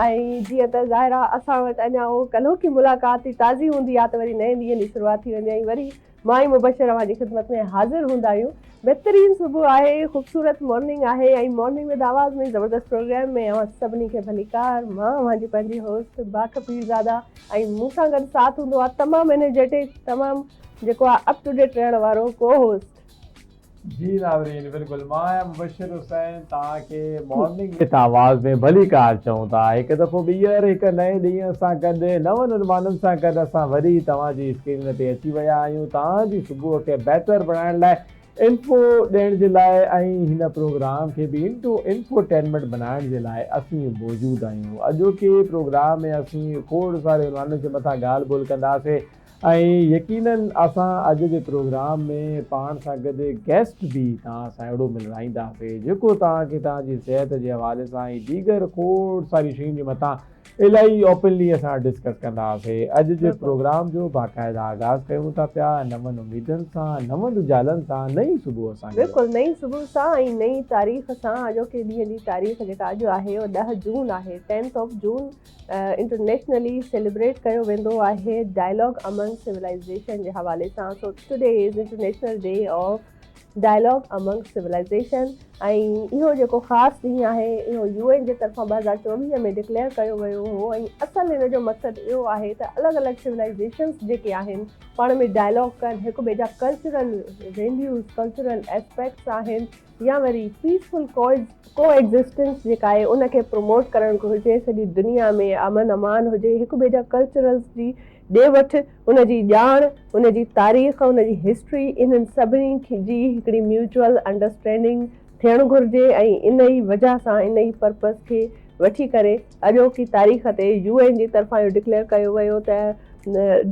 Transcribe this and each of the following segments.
۽ جيئن ته ظاهر آهي اسان وٽ اڃا اهو ڪلهوڪي ملاقات ئي تازي هوندي آ ته وري نئين ڏينهن جي شروعات ٿي ويندي ۽ وري مان ۽ مبشر اوهان جي خدمت ۾ حاضر هوندا آهيون. بهترين صبح آهي خوبصورت مارننگ آهي ۽ مارننگ وٿ آواز ۾ زبردست پروگرام ۾ اوهان سڀني کي ڀليڪار مان اوهان جي پنهنجي هوسٽ باک پيرزاده ۽ مون سان گڏ ساٿ هوندو آ تمام انرجيٽڪ تمام جيڪو آ اپ ٽو ڊيٽ رهڻ وارو ڪو هوسٽ. جي ناظرين بلڪل مان آهيان مبشر حسين توهان کي مارننگ وٿ آواز ۾ ڀليڪار چئون ٿا هڪ دفعو ٻيهر هڪ نئين ڏينهن سان گڏ نون عنوانن سان گڏ اسان وري توهان جي اسڪرين تي اچي ويا آهيون توهان جي صبح کي بهتر بڻائڻ لاء انفو ڏيڻ جي لاء ۽ هن پروگرام کي به انٽو انفوٽينمينٽ بنائڻ جي لاء اسين موجود آهيون اڄوڪي پروگرام ۾ اسين کوڙ ساري عنوانن جي مٿان ڳالهه ٻولهه ڪنداسين ۽ يقينن اسان اڄ جي پروگرام ۾ پاڻ سان گڏ گيسٽ به توهان سان اهڙو ملرائينداسي جيڪو توهان کي توهان جي صحت جي حوالي سان ۽ ديگر کوڙ ساري شين جي مٿان الائي اوپنلي اسان ڊسڪس ڪنداسي اڄ جي پروگرام جو باقاعده آغاز ڪيون ٿا پيا نون اميدن سان نون رجالن سان نئين صبح سان گڏ. بلڪل نئين صبح سان ۽ نئين تاريخ سان اڄوڪي ڏينهن جي تاريخ جيڪا اڄ آهي اهو ڏهه جون آهي Tenth of June internationally celebrate ڪيو ويندو آهي ڊائلاگ امنگ سولائيزيشن جي حوالي سان so today is international day of dialogue among civilization ۽ اهو جيڪو خاص ڏينهن آهي اهو يو اين جي طرفان ٻه هزار چوويهه ۾ ڊڪليئر ڪيو ويو هو ۽ اصل هن جو مقصد اهو آهي ته الڳ الڳ سولائيزيشنس جيڪي آهن پاڻ ۾ ڊائلاگ ڪن هڪ ٻئي جا ڪلچرل ويليوز ڪلچرل اسپيڪٽس آهن يا وري پيسفل ڪو ايگزسٽنس جيڪا آهي ان کي پروموٽ ڪرڻ گهرجي سڄي دنيا ۾ امن امان هجي هڪ ٻئي جا ڪلچرلز جي ڏي وٺ ان جي ڄاڻ ان جي تاريخ ان جي هسٽري انهن سڀني جي هڪڙي ميوچل انڊرسٽينڊنگ ٿيڻ گهرجي ۽ انهي وجه سان انهي پرپز کي وٺي ڪري اڄوڪي تاريخ تي يو اين جي طرفان اهو ڊڪليئر ڪيو ويو ته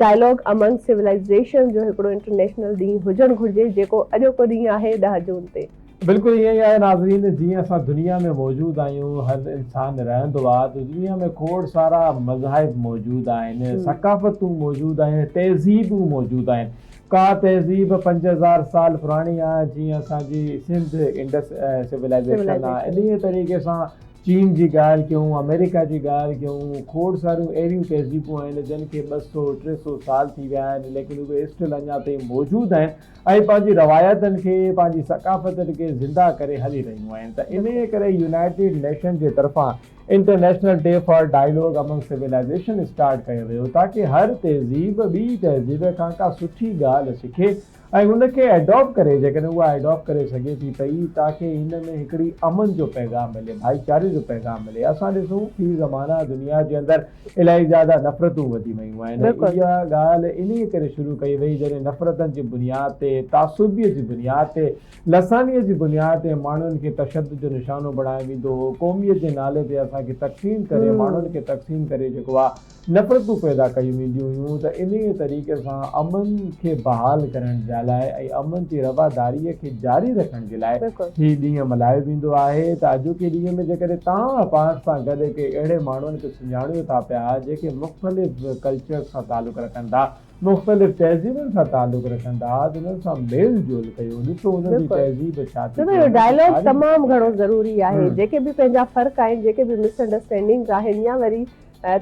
ڊائلاگ امنگ سولائيزيشنز جو هڪڙو انٽرنيشنل ڏينهن هجڻ گهرجي جيڪو اڄوڪو ڏينهن آهي ڏهه جون تي. بلڪل ائين ئي آهي ناظرين جيئن اسان دنيا ۾ موجود آهيون هر انسان رهندو آهي ته دنيا ۾ کوڙ سارا مذاهب موجود آهن ثقافتون موجود آهن تهذيبون موجود آهن ڪا تهذيب پنج هزار سال پراڻي آهي جيئن اسان جي سنڌ انڊس سولائيزيشن آهي انهي طريقي سان چين جي ڳالهه ڪيون، آمريڪا جي ڳالهه ڪيون، کوڙ ساريون اهڙيون تهذيبون آهن جن کي ٻه سؤ، ٽي سؤ سال ٿي ويا آهن ليڪن اهي اسٽل اڃا تائين موجود آهن ۽ پنهنجي روايتن کي، پنهنجي ثقافتن کي زنده ڪري هلي رهيون آهن ته انهيء ڪري يونائيٽيڊ نيشن جي طرفان international day for dialogue among civilization start ڪيو ويو تاڪه هر تهذيب ٻي تهذيب کان ڪا سٺي ڳالهه سکي ۽ ان کي اڊاپ ڪري جيڪڏهن اها اڊاپ ڪري سگهي ٿي پئي تاڪي هن ۾ هڪڙي امن جو پيغام ملي ڀائيچاري جو پيغام ملي اسان ڏسون في زمانه دنيا جي اندر الاهي زياده نفرتون وڌي ويون آهن اها ڳالهه انهي ڪري شروع ڪئي وئي جڏهن نفرتن جي بنياد تي تعصبي جي بنياد تي لساني جي بنياد تي ماڻهن کي تشدد جو نشانو بڻايو ويندو هو قوميت جي نالي تي اسان کي تقسيم ڪري ماڻهن کي تقسيم ڪري جيڪو آهي نفرتون پيدا ڪيون وينديون هيون ته انهيء طريقي سان امن کي بحال ڪرڻ جي لاء ۽ امن جي رواداريء کي جاري رکڻ جي لاء بلڪل. هي ڏينهن ملهايو ويندو آهي ته اڄوڪي ڏينهن ۾ جيڪڏهن توهان پاڻ سان گڏ ڪي اهڙي ماڻهن کي سڃاڻيو ٿا پيا جيڪي مختلف ڪلچرز سان تعلق رکن ٿا، مختلف تهذيبن سان تعلق رکن ٿا ته انهن سان ميل جول ڪيو، ڏسو انهن جي بلڪل. تهذيب ڇا ٿي ڇو ته چئي، اهو انهن کي ڊائلاگ تاريخ تمام ڇا گهڻو چئي. ضروري آهي. جيڪي به پنهنجا فرق آهن، جيڪي به مس انڊرسٽينڊنگز آهن يا وري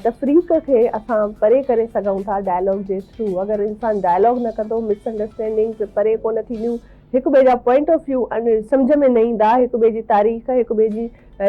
تفريق کي اسان پري ڪري سگهون ٿا ڊائلاگ جي ٿرو اگر انسان ڊائلاگ نه ڪندو مس انڊرسٽينڊنگز پري ڪونه ٿينديون هڪ ٻئي جا پوائنٽ آف ويو سمجهه ۾ نه ايندا هڪ ٻئي جي تاريخ هڪ ٻئي جي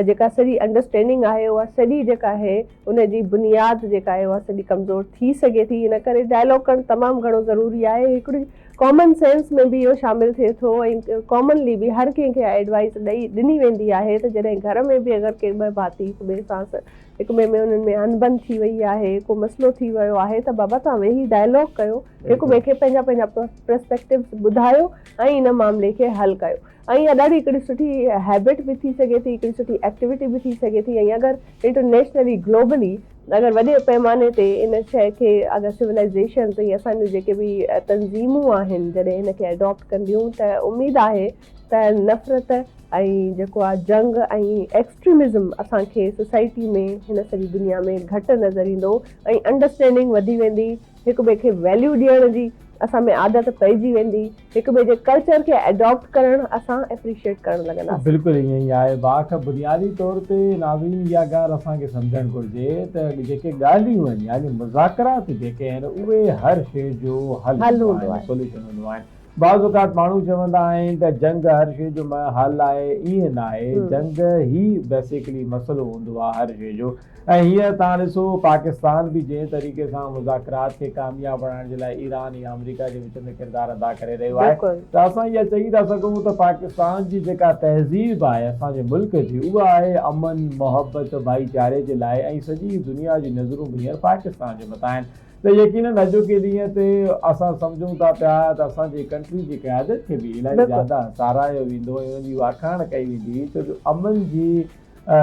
جيڪا سڄي انڊرسٽينڊنگ آهي اها سڄي جيڪا آهي ان جي بنياد جيڪا آهي اها سڄي ڪمزور ٿي سگهي ٿي ان ڪري ڊائلاگ ڪرڻ تمام گهڻو ضروري آهي هڪڙي ڪامن سينس ۾ به اهو شامل ٿئي ٿو ۽ ڪامنلي به هر ڪنهن کي اها ايڊوائيس ڏئي ڏني ويندي آهي ته جڏهن گهر ۾ به اگر ڪي ٻه ڀاتي هڪ ٻئي سان هڪ ٻئي ۾ انهن ۾ اڻبڻ ٿي وئي آهي، ڪو مسئلو ٿي ويو آهي ته بابا توهان ويهي ڊائلاگ ڪيو، هڪ ٻئي کي پنهنجا پنهنجا پرسپيڪٽوز ٻڌايو ۽ ان معاملي کي حل ڪيو ۽ اها ڏاڍي هڪڙي سٺي هيبٽ به ٿي سگهي ٿي، هڪڙي سٺي ايڪٽيوٽي به ٿي سگهي ٿي ۽ اگر انٽرنيشنلي گلوبلي اگر وڏي پئماني تي ان شيء کي اگر سولائيزيشنز ۽ اسان جون جيڪي به تنظيمون آهن جڏهن ان کي اڊاپٽ ڪنديون ته اميد آهي ته نفرت ۽ جيڪو آ جنگ ۽ ايڪسٽريمزم اسان کي سوسائٽي ۾ هن سڄي دنيا ۾ گهٽ نظر ايندو ۽ انڊرسٽينڊنگ وڌي ويندي هڪ ٻئي کي ويليو ڏيڻ جي اسان ۾ عادت پئجي ويندي هڪ ٻئي جي ڪلچر کي ايڊاپٽ ڪرڻ اسان ايپريشيئٽ ڪرڻ لڳنداسين. بلڪل ائين ئي آهي باک بنيادي طور تي ناظرين اها ڳالهه اسان کي سمجهڻ گهرجي ته جيڪي ڳالهيون آهن يعني مذاڪرات جيڪي آهن اهي هر شي جو حل هوندو آهن سوليوشن هوندو آهن. بعض اوقات ماڻهو چوندا آهن ته جنگ هر شيء جو منهن حل آهي، ائين ناهي، جنگ هي بيسيڪلي مسئلو هوندو آهي هر شيء جو ۽ هينئر توهان ڏسو پاڪستان به جنهن طريقي سان مذاڪرات کي ڪامياب بڻائڻ جي لاء ايران يا آمريڪا جي وچ ۾ ڪردار ادا ڪري رهيو آهي ته اسان اها چئي ٿا سگهون ته پاڪستان جي جيڪا تهذيب آهي اسان جي ملڪ جي اها آهي امن، محبت، ڀائيچاري جي لاء ۽ سڄي دنيا جي نظرون به هينئر پاڪستان جي مٿان آهن ته يقينن اڄوڪي ڏينهن تي اسان سمجهون ٿا پيا ته اسان جي ڪنٽري جي قيادت کي به الائي زياده ساراهيو ويندو ۽ ان جي واکاڻ ڪئي ويندي ڇو جو امن جي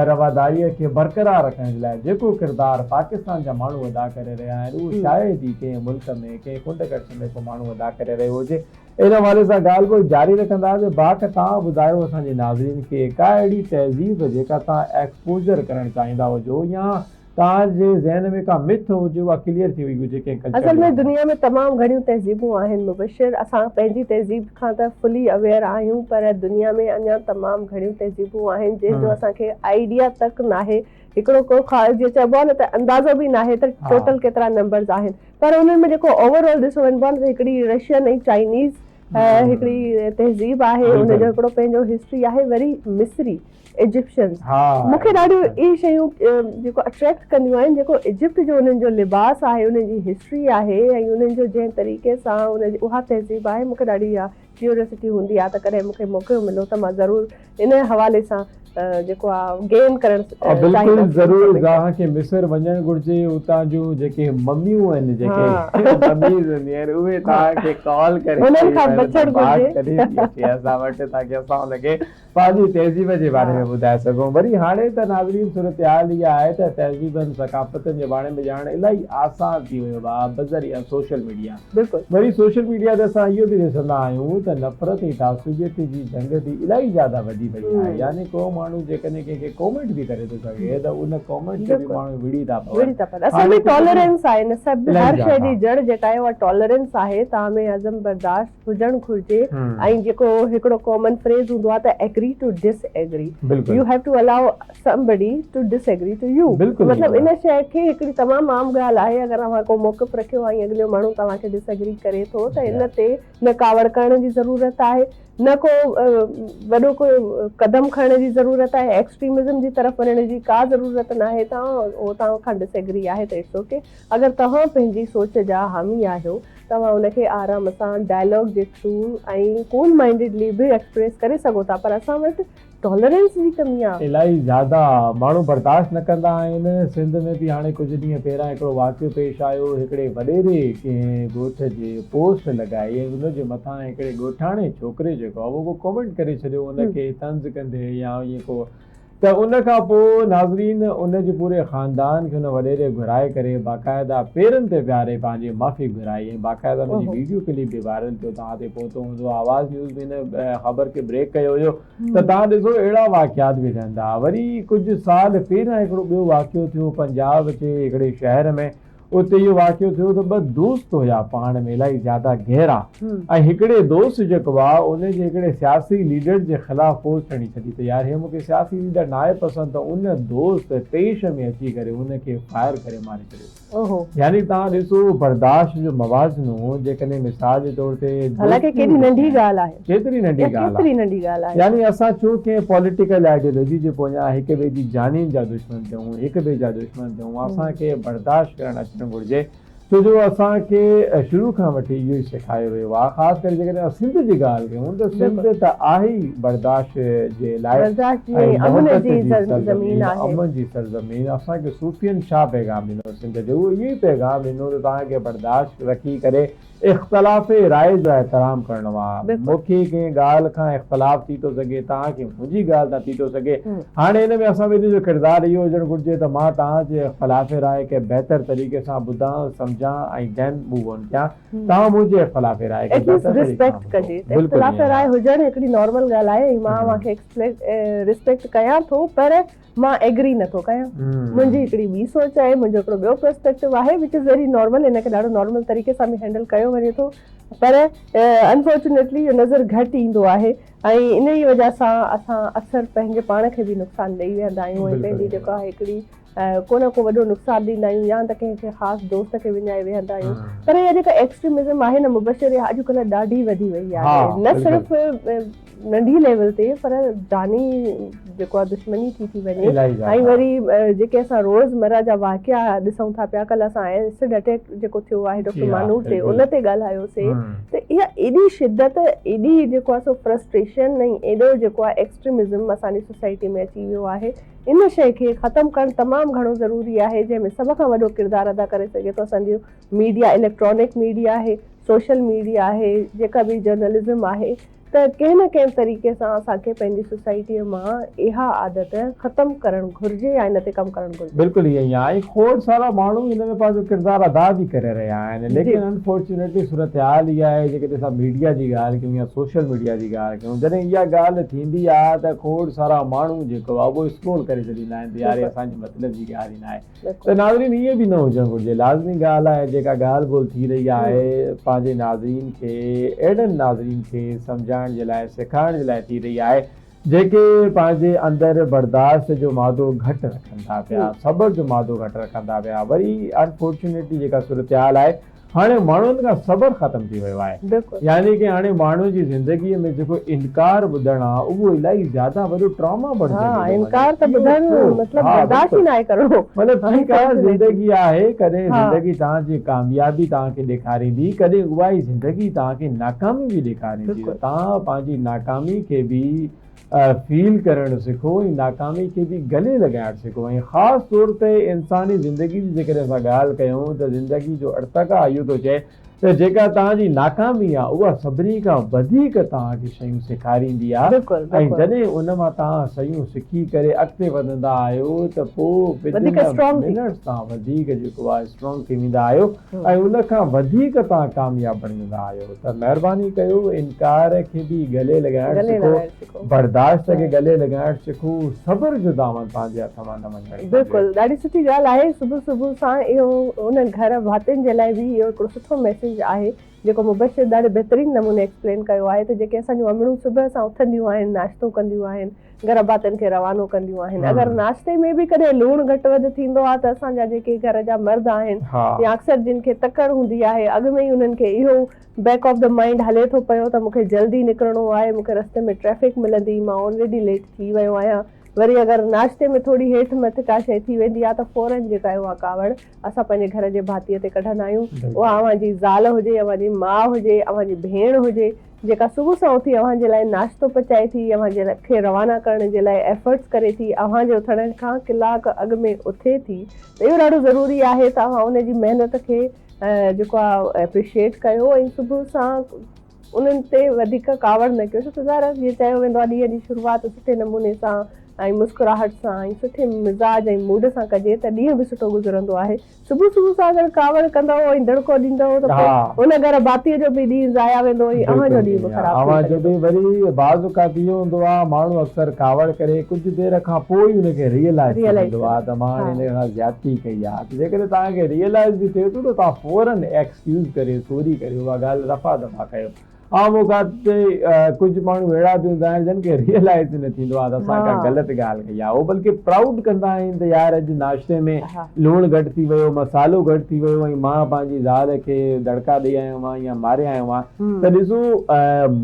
رواداريء کي برقرار رکڻ جي لاء جيڪو ڪردار پاڪستان جا ماڻهو ادا ڪري رهيا آهن اهو شايد ئي ڪنهن ملڪ ۾ ڪنهن ڪنڊ ڪڙڇ ۾ ڪو ماڻهو ادا ڪري رهيو هجي. ان حوالي سان ڳالهه ٻولهه جاري رکنداسين باقي توهان ٻڌايو اسان جي ناظرين کي ڪا اهڙي تهذيب جيڪا توهان ايڪسپوزر ڪرڻ چاهيندا هجو يا توهان جي ذهن ۾ ڪا مٿ هجي اها ڪليئر ٿي وئي هجي ڪنهن ڪلچر اصل ۾ دنيا ۾ تمام گهڻيون تهذيبون آهن مبشر اسان پنهنجي تهذيب کان ته فلي اويئر آهيون پر دنيا ۾ اڃان تمام گهڻيون تهذيبون آهن جنهن جو اسان کي آئيڊيا تڪ ناهي هڪڙو ڪو خا جيئن چئبو آهي نه ته اندازو به ناهي ته ٽوٽل ڪيترا نمبرز آهن پر انهن ۾ جيڪو اوور آل ڏسو وڃبو آهي نه ته هڪڙي رشين ۽ چائنيز هڪڙي تهذيب آهي ان جو هڪڙو پنهنجو هسٽري آهي وري مصري ايجپشنز مون کي ڏاڍيون اهي شيون جيڪو اٽريڪٽ ڪنديون آهن جيڪو ايجپٽ جو انهن جو لباس آهي انهن جي هسٽري آهي ۽ انهن جو جنهن طريقي سان انهن جي اها تهذيب آهي مون کي ڏاڍي اها ڪيوريسٽي هوندي آهي ته ڪڏهن مون کي موقعو ملو ته مان ضرور انهي حوالي سان جيڪو آهي گين ڪرڻ چاهيندس بلڪل ضرور زاهه کي مصر وڃڻ گهرجي اتان جون جيڪي مميون آهن جيڪي مميز هونديون آهن اهي توهان کي ڪال ڪري انهن کان بچڻ گهرجي اسان وٽ تاڪي اسان ان کي پنهنجي تهذيب جي باري ۾ ٻڌائي سگهون. وري هاڻي ته ناظرين صورتحال اها آهي ته تهذيبن ثقافتن جي ڀاڻي ۾ ڄاڻڻ الائي آسان ٿي ويو با بذريعه سوشل ميڊيا. وري سوشل ميڊيا تي اسان اهو به ڏسندا آهيون ته نفرت ۽ تعصبيت جي جنگ به الائي زياده وڌي وئي آهي يعني ڪو ماڻهو جيڪڏهن ڪنهن کي ڪومينٽ به ڪري ٿو سگهي ته ان ڪومينٽ تي به ماڻهو وڙهي ٿا پون. اصل ۾ ٽالرينس آهي نه سر هر شئي جي جڙ جيڪا آهي اها ٽالرينس آهي تاهمي هضم برداشت. هجڻ گهرجي ۽ جيڪو هڪڙو ڪامن فريز هوندو آهي ته agree to disagree you have to allow somebody to disagree to you مطلب ان شيء کي هڪڙي تمام عام ڳالهه آهي اگر اوهان ڪو موقف رکيو ۽ اڳليو ماڻهو توهان کي ڊس ايگري ڪري ٿو ته ان تي نه ڪاوڙ ڪرڻ جي ضرورت آهي نه ڪو وڏو ڪو قدم کڻڻ جي ضرورت آهي ايڪسٽريمزم جي طرف وڃڻ جي ڪا ضرورت ناهي توهان اوهان کان ڊس ايگري آهي ته اٽس اوڪي اگر توهان پنهنجي سوچ جا حامي آهيو توهان ان کي آرام سان ڊائلاگ جي ٿرو ۽ ڪول مائنڊيڊلي به ايڪسپريس ڪري سگهو ٿا پر اسان وٽ ٽالرينس جي ڪمي آ. الائي زياده ماڻهو برداشت نه ڪندا آهن. سنڌ ۾ به هاڻي ڪجهه ڏينهن پهريان هڪڙو واقعو پيش آيو. هڪڙي وڏيري ڪنهن ڳوٺ جي پوسٽ لڳائي ۽ ان جي مٿان هڪڙي ڳوٺاڻي ڇوڪري جيڪو آ اهو ڪو ڪومينٽ ڪري ڇڏيو ان کي طنز ڪندي يا ائين ڪو ته ان کان پوء ناظرين ان جي پوري خاندان کي ان وڏيري گهرائي ڪري باقاعده پيرن تي ويهاري پنهنجي معافي گهرائي ۽ باقاعده ان جي ويڊيو ڪلپ به وائرل ٿيو توهان تائين پهتو هوندو آواز نيوز به ان خبر کي بريڪ ڪيو هيو ته توهان ڏسو اهڙا واقعات به ٿين ٿا وري ڪجهه سال پهريان هڪڙو ٻيو واقعو ٿيو پنجاب جي هڪڙي شهر ۾ اتي اهو واقعو ٿيو ته ٻه دوست هيا پاڻ ۾ الائي زياده گهرا ۽ هڪڙي دوست جيڪو آ ان جي هڪڙي سياسي ليڊر جي خلاف فوج کڻي ڇڏي ته يار هي مون کي سياسي ليڊر ناهي پسند ته ان دوست طيش ۾ اچي ڪري ان کي فائر ڪري ماري ڇڏيو يعني تهان ڏسو برداشت جو موازنو جيڪڏهن مثال جي طور تي حالانڪه ڪيڏي ننڍي ڳالهه آهي ڪيتري ننڍي ڳالهه آهي يعني اسان ڇو ڪنهن پوليٽيڪل آئيڊيولوجي جي پويان هڪ ٻئي جي جانين جا دشمن ٿيون هڪ ٻئي جا دشمن هو اسان کي برداشت ڪرڻ اچڻ گهرجي ڇو جو اسان کي شروع کان وٺي اهو ئي سيکايو ويو آهي خاص ڪري جيڪڏهن اسان سنڌ جي ڳالهه ڪيون ته سنڌ ته آهي ئي برداشت جي لاء ۽ محبت جي سرزمين امن جي سرزمين اسان کي صوفين ڇا پيغام ڏنو سنڌ جو اهو ئي پيغام ڏنو ته توهان کي برداشت رکي ڪري اختلاف راء جو احترام ڪرڻو آ مون کي ڪنهن ڳالهه کان اختلاف ٿي ٿو سگهي توهان کي منهنجي ڳالهه تان ٿي ٿو سگهي هاڻي ان ۾ اسان ٻنهي جو ڪردار اهو هجڻ گهرجي ته مان توهان جي اختلاف راء کي بهتر طريقي سان ٻڌان سمجهان ۽ then move on ڪيان توهان منهنجي اختلاف راء کي بهتر طريقي سان ٻڌو بلڪل ايئن آهي. مان ايگري نٿو ڪيان منهنجي هڪڙي ٻي سوچ آهي منهنجو هڪڙو ٻيو پرسپيڪٽو آهي وچ از ويري نارمل ان کي ڏاڍو نارمل طريقي سان به هينڊل ڪيو وڃي ٿو پر انفارچونيٽلي اهو نظر گهٽ ايندو آهي ۽ انهي وجه سان اسان اڪثر پنهنجي پاڻ کي به نقصان ڏئي ويهندا آهيون ۽ پنهنجي جيڪو آهي هڪڙي ڪو نه ڪو وڏو نقصان ڏيندا آهيون يا ته ڪنهن کي خاص دوست کي وڃائي ويهندا آهيون پر اها جيڪا ايڪسٽريمزم آهي نه مبشر اها اڄڪلهه ڏاڍي وڌي وئي آهي نه صرف ننڍي ليول تي پر جاني جيڪو آ دشمني ٿي ٿي وڃي ۽ وري جيڪي اسان روز مرا جا واقعا ڏسون ٿا پيا ڪل اسان ايسڊ اٽيڪ جيڪو ٿيو آهي ڊاڪٽر مانور تي ان تي ڳالهايو سي ته اها ايڏي شدت ايڏي جيڪو آ سو فرسٽريشن ۽ ايڏو جيڪو آ ايڪسٽريمزم اسان جي سوسائٽي ۾ اچي ويو آهي ان شئي کي ختم ڪرڻ تمام گهڻو ضروري آهي جنهن ۾ سڀ کان وڏو ڪردار ادا ڪري سگهي ٿو اسان جو ميڊيا اليڪٽرانڪ ميڊيا آهي سوشل ميڊيا آهي جيڪا به جرنلزم آهي ته ڪنهن نه ڪنهن طريقي سان اسان کي پنهنجي سوسائٽيء مان اها عادت ختم ڪرڻ گهرجي يا ان تي ڪم ڪرڻ گهرجي. بلڪل ائين ئي آهي ۽ کوڙ سارا ماڻهو ان ۾ پنهنجو ڪردار ادا به ڪري رهيا آهن ليڪن انفارچونيٽلي صورتحال اها آهي جيڪڏهن اسان ميڊيا جي ڳالهه ڪيون يا سوشل ميڊيا جي ڳالهه ڪيون جڏهن اها ڳالهه ٿيندي آهي ته کوڙ سارا ماڻهو جيڪو آهي اهو اسڪرول ڪري ڇڏيندا آهن ته يار هي اسان جي مطلب جي ڳالهه ئي ناهي ته ناظرين ائين به نه هجڻ گهرجي. لازمي ڳالهه آهي جيڪا ڳالهه ٻولهه ٿي رهي آهي پنهنجي ناظرين کي اهڙن ناظرين کي سمجهائڻ جي لاء سيکارڻ جي لاء ٿي رهي آهي جيڪي پنهنجي اندر برداشت جو مادو گهٽ رکن ٿا پيا صبر جو مادو گهٽ رکن ٿا پيا وري انفارچونيٽلي جيڪا صورتحال آهي هاڻي ماڻهن کان صبر ختم ٿي ويو آهي يعني ڪي هاڻي ماڻهو جي زندگي ۾ جيڪو انڪار ٻڌڻ آ اهو الائي زياده وڏو ٽراما بڻجندو ٿو وڃي انڪار ته ٻڌڻ مطلب برداشت ئي ناهي ڪرڻو مطلب ٺيڪ آ زندگي آهي ڪڏهن زندگي توهان جي ڪاميابي توهان کي ڏيکاريندي ڪڏهن اهائي زندگي توهان کي ناڪامي به ڏيکاريندي ته توهان پنهنجي ناڪامي کي به فيل ڪرڻ سکو ۽ ناڪامي کي به گلي لڳائڻ سکو ۽ خاص طور تي انساني زندگي جي جيڪڏهن اسان ڳالهه ڪيون ته زندگي جو ارتقا اهو ٿو چئي ته جيڪا توهان جي ناڪامي آهي اها سڀني کان وڌيڪ توهان کي شيون سيکاريندي آهي ۽ جڏهن ان مان توهان شيون سکي ڪري اڳتي وڌندا آهيو ته پوء وڌيڪ اسٽرانگ ٿي ويندا آهيو. ۽ ان کان وڌيڪ توهان ڪامياب بڻجندا آهيو ته مهرباني ڪيو انڪار کي به گلي لڳائڻ سکو برداشت کي گلي لڳائڻ سکو صبر جو دامن پنهنجي هٿ مان نه وڃڻ گهرجي. بلڪل ڏاڍي سٺي ڳالهه آهي صبح صبح سان اهو ان گهر ڀاتين جي لاء به اهو هڪڙو سٺو ميسيج آهي جيڪو مبشر ڏاڍي بهترين نموني ايڪسپلين ڪيو آهي ته جيڪي اسان جون امڙون صبح سان اٿنديون آهن ناشتو ڪنديون آهن گهر ڀاتين کي روانو ڪنديون آهن اگر ناشتي ۾ به ڪڏهن لوڻ گهٽ وڌ ٿيندو آهي ته اسان جا جيڪي گهر جا مرد آهن يا اڪثر جن کي تڪڙ هوندي آهي اڳ ۾ ئي انهن کي اهو بيڪ آف دي مائنڊ هلي ٿو پيو ته مونکي جلدي نڪرڻو آهي مونکي رستي ۾ ٽريفڪ ملندي مان آلريڊي ليٽ ٿي ويو آهيان وري اگر ناشتي ۾ ٿوري هيٺ مٿ ڪا شيء ٿي ويندي آ ته فورن جيڪا اها ڪاوڙ اسان پنهنجي گهر جي ڀاتيء تي ڪڍندا آهيون، اها اوهان جي زال هجي، اوهان جي ماء هجي، اوهان جي ڀيڻ هجي، جيڪا صبح سان اٿي اوهان جي لاء ناشتو پچائي ٿي، اوهان جي کي روانا ڪرڻ جي لاء ايفرٽس ڪري ٿي، اوهان جي اٿڻ کان ڪلاڪ اڳ ۾ اٿي ٿي ته اهو ڏاڍو ضروري آهي ته اوهان ان جي محنت کي جيڪو آ ايپريشيئيٽ ڪيو ۽ صبح سان انهن تي وڌيڪ ڪاوڙ نه ڪيو، ڇو ته ظاهر آهي جيئن چيو ويندو آهي ڏينهن جي شروعات سٺي نموني سان ۽ مسڪراهٽ سان ۽ سٺي مزاج ۽ موڊ سان ڪجي ته ڏينهن به سٺو گذرندو آهي. صبح صبح سان اگر ڪاوڙ ڪندؤ ۽ دڙڪو ڏيندؤ ته پوء ان گهر ڀاتيء جو به ڏينهن ضايع ويندو ۽ اوهان جو ڏينهن به خراب ٿي سگهي ٿو. وري بعض اوقات اهو هوندو آهي ماڻهو اڪثر ڪاوڙ ڪري ڪجهه دير کان پوء ئي ان کي ريئلائيز ٿي ويندو آهي ته مان هاڻي هن سان زيادتي ڪئي آهي ته جيڪڏهن توهان کي ريئلائيز به ٿئي ٿو ته توهان فورن يوز ڪريو چوري ڪريو اها ڳالهه رفع دفع ڪيو عام اوقات تي ڪجهه ماڻهو اهڙا به هوندا آهن جن کي ريئلائز ئي نه ٿيندو آهي ته اسان ڪا غلط ڳالهه ڪئي آهي اهو بلڪه پرائوڊ ڪندا آهن ته يار اڄ ناشتي ۾ لوڻ گهٽ ٿي ويو مصالحو گهٽ ٿي ويو ۽ مان پنهنجي زال کي دڙڪا ڏئي آيو آهيان يا ماري آيو آهيان ته ڏسو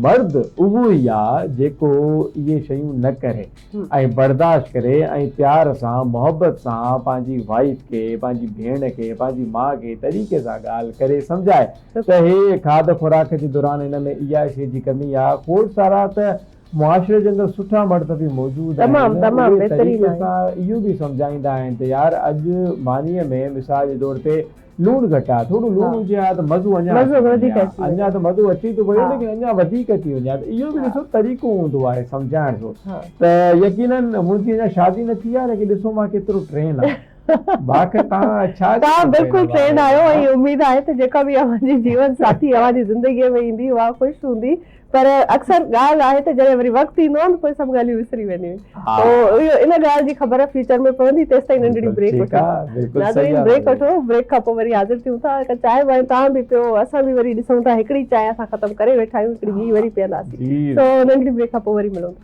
مرد اهو ئي آهي جيڪو اهي شيون نه ڪري ۽ برداشت ڪري ۽ پيار سان محبت سان پنهنجي وائيف کي پنهنجي ڀيڻ کي پنهنجي ماء کي طريقي سان ڳالهه ڪري سمجهائي ته هي کاڌ خوراڪ جي دوران هن ۾ اها شي جي ڪمي آ کوڙ سارا ته معاشري جي اندر سٺا مرد به موجود آهن اهي طريقي سان اهو به سمجهائيندا آهن ته يار اڄ مانيء ۾ مثال جي طور تي لوڻ گهٽ آهي ٿورو لوڻ هجي ها ته مزو اڃا مزو وڌيڪ اچي ها اڃا ته مزو اچي ٿو پيو ليڪن اڃا وڌيڪ اچي وڃي ها ته اهو به ڏسو طريقو هوندو آهي سمجهائڻ جو ته يقيناً منهنجي اڃا شادي نه ٿي آهي ليڪن ڏسو مان ڪيترو ٽرين آهي باقي تان ڇا تان بلڪل ٽرين آهيو ۽ اميد آهي ته جيڪا به اوهان جي جيون ساٿي اوهان جي زندگي ۾ ايندي اها خوش هوندي پر اڪثر ڳالهه آهي ته جڏهن وري وقت ايندو آهي ته پوء سڀ ڳالهيون وسري وينديون آهن. ان ڳالهه جي خبر فيوچر ۾ پوندي تيستائين ننڍڙي بريڪ وٺو. ناظرين بريڪ وٺو بريڪ کان پوء وري حاضر ٿيون ٿا. هڪ چانهه وانهه توهان به پيو اسان به وري ڏسون ٿا هڪڙي چانهه اسان ختم ڪري ويٺا آهيون هڪڙي ٻي وري پيئنداسين سو ننڍڙي بريڪ کان پوء وري ملون ٿا.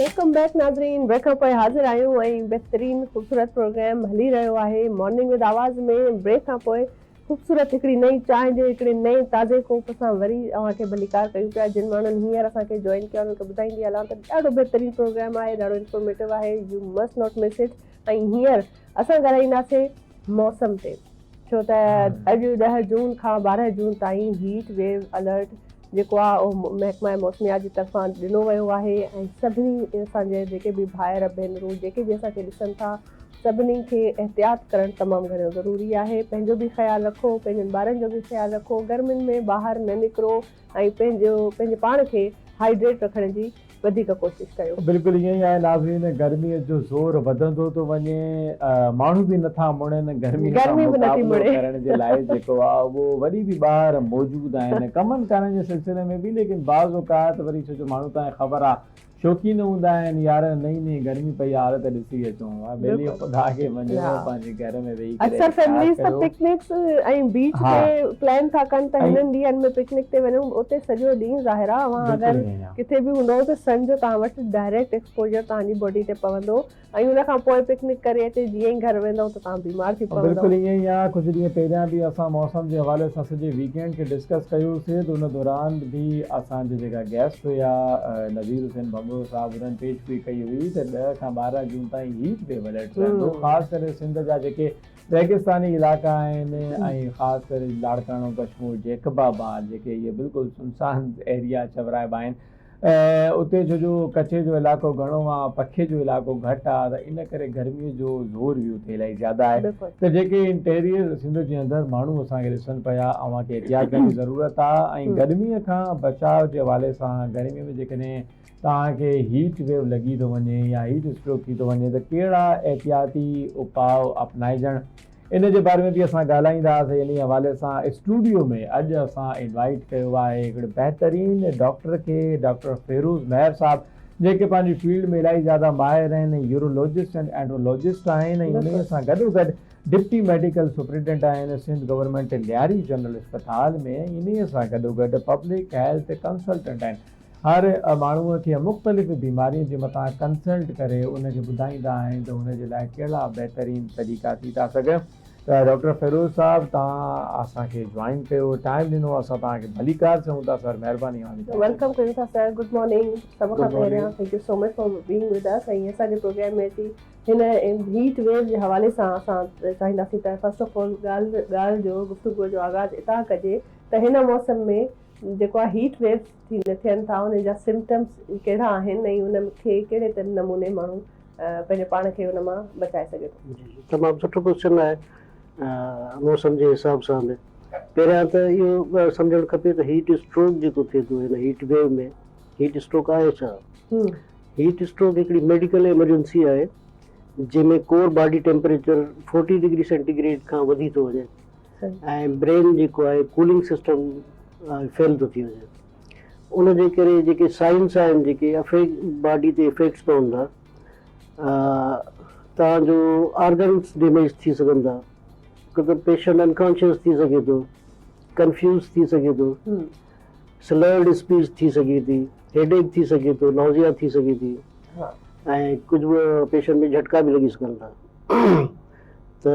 ويلڪم بيڪ ناظرين بريڪ کان پوء حاضر آهيون ۽ بهترين خوبصورت پروگرام هلي رهيو آهي مارننگ وٿ آواز ۾ بريڪ کان پوء خوبصورت هڪڙي نئين چانهه جي هڪڙي نئين تازي ڪوپ سان وري اوهان کي ڀليڪار ڪيون پيا جن ماڻهن هينئر اسان کي جوائن ڪيو انهن کي ٻڌائيندي هلان ته ڏاڍو بهترين پروگرام آهي ڏاڍو انفارميٽو آهي you must not miss it ۽ هينئر اسان ڳالهائينداسين موسم تي ڇو ته اڄ ڏهه جون کان ٻارهن جون تائين هيٽ ويو الرٽ جيڪو آهي اهو محڪمه موسميات جي طرفان ڏنو ويو آهي ۽ سڀني اسان جي جيڪي به ڀائر ڀينرون جيڪي به اسان کي ڏسن ٿا سڀني کي احتياط ڪرڻ تمام گهڻو ضروري آهي پنهنجو به خيال رکو پنهنجن ٻارن جو به خيال رکو گرمين ۾ ٻاهر نه نڪرو ۽ پنهنجو پنهنجي پاڻ کي هائيڊريٽ رکڻ جي وڌيڪ ڪوشش ڪيو. بلڪل ائين ئي آهي ناظرين گرمي جو زور وڌندو ٿو وڃي ماڻهو به نٿا مڙن گرمي سان مقابلو ڪرڻ جي لاء جيڪو آهي اهو وري به ٻاهر موجود آهن ڪمن ڪارن جي سلسلي ۾ به ليڪن بعض اوقات وري ڇو جو ماڻهو تان کي خبر آهي شوقين هوندا آهن يار نئين نئين گرمي پئي آ ته ڏسي اچون ها ٻيلي خدا کي مڃيو ها پنهنجي گهر ۾ ويهي ڪري اڪثر فيمليز ته پڪنڪس ۽ بيچ تي پلان ٿا ڪن ته هنن ڏينهن ۾ پڪنڪ تي وڃون اتي سڄو ڏينهن ظاهرا اوهان اگر ڪٿي به هوندئو ته سن جو توهان وٽ ڊائريڪٽ ايڪسپوجر توهان جي باڊي تي پوندو ۽ ان کان پوء پڪنڪ ڪري اچي جيئن ئي گهر ويندئو ته توهان بيمار ٿي پوندئو. بلڪل ائين ئي آهي ڪجهه ڏينهن پهريان به اسان موسم جي حوالي سان سڄي ويڪينڊ کي ڊسڪس ڪيو سي ته ان دوران به اسان جي جيڪا گيسٽ هيا نذير حسين ڀنڀرو صاحب انهن پيش گوئي ڪئي هئي ته ڏهه کان ٻارهن جون تائين هيٽ ويو الرٽ رهندو خاص ڪري سنڌ جا جيڪي ريگستاني علائقا آهن ۽ خاص ڪري لاڙڪاڻو ڪشمور جيڪب آباد جيڪي اهي بلڪل سنسان ايريا چورائبا آهن اتي ڇو جو ڪڇي جو علائقو گهڻو آ پکي جو علائقو گهٽ آ ته ان ڪري گرمي جو زور به اتي الائي زياده آهي ته جيڪي انٽيريئر سنڌ جي اندر ماڻهو اسان کي ڏسن پيا اوهان کي احتياط ڪرڻ جي ضرورت آ ۽ گرمي کان بچاء جي حوالي سان گرمي ۾ جيڪڏهن توهان کي هيٽ ويو لڳي ٿو وڃي يا هيٽ اسٽروڪ ٿي ٿو وڃي ته ڪهڙا احتياطي اپاء اپنائجڻ ان جي باري ۾ به اسان ڳالهائيندا سي انهي حوالي سان اسٽوڊيو ۾ اڄ اسان انوائيٽ ڪيو آهي هڪڙي بهترين ڊاڪٽر کي ڊاڪٽر فيروز مهر صاحب جيڪي پنهنجي فيلڊ ۾ الائي زياده ماهر آهن ۽ يورولوجسٽ اينڊ اينڊرولوجسٽ آهن ۽ انهي سان گڏو گڏ ڊپٽي ميڊيڪل سپرينٽنڊنٽ آهن سنڌ گورنمينٽ لياري جنرل اسپتال ۾ ۽ انهي سان گڏو گڏ پبلڪ هيلٿ ڪنسلٽنٽ آهن هر ماڻهوء کي مختلف بيمارين جي متان ڪنسلٽ ڪري ان کي ٻڌائيندا آهن ته هن جي لاء ڪهڙا بهترين طريقا ٿي ٿا سگهن ته ڊاڪٽر فيروز صاحب توهان اسان کي جوائن ڪيو ٽائيم ڏنو اسان توهان کي ڀليڪار چئون ٿا سر مهرباني اوهان جي ويلڪم ڪيون ٿا سر گڊ مارننگ سڀ کان پهريان thank you so much for being with us ۽ اسان جي پروگرام ۾ اچي هن هيٽ ويو جي حوالي سان اسان چاهينداسين ته فرسٽ آف آل ڳالهه ڳالهه جو گفتگو جو آغاز اتان ڪجي ته هن موسم ۾ جيڪو آهي هيٽ ويوز ٿين ٿا انهن جا سمپٽمز ڪهڙا آهن ۽ ان کي ڪهڙي نموني ماڻهو پنهنجي پاڻ کي ان مان بچائي سگهي ٿو. جي تمام سٺو ڪوئسچن آهي موسم جي حساب سان به پهريان ته اهو ڳالهه سمجهڻ کپي ته هيٽ اسٽروڪ جيڪو ٿئي ٿو هن هيٽ ويو ۾ هيٽ اسٽروڪ آهي ڇا؟ هيٽ اسٽروڪ هڪڙي ميڊيڪل ايمرجنسي آهي جنهن ۾ core body temperature forty degree centigrade کان وڌي ٿو وڃي ۽ برين جيڪو آهي ڪولنگ سسٽم فيل ٿو ٿي وڃي ان جي ڪري جيڪي سائنس آهن جيڪي افيڪ باڊي تي افيڪٽس پون ٿا توهان جو آرگنس ڊيميج ٿي سگهن ٿا ڪو ته پيشنٽ انڪانشيس ٿي سگهي ٿو ڪنفيوز ٿي سگهي ٿو سلرڊ اسپيچ ٿي سگهي ٿي هيڊ ايڪ ٿي سگهي ٿو نوزيا ٿي سگهي ٿي ۽ ڪجهه به پيشنٽ ۾ جھٽڪا به لڳي سگهن ٿا ته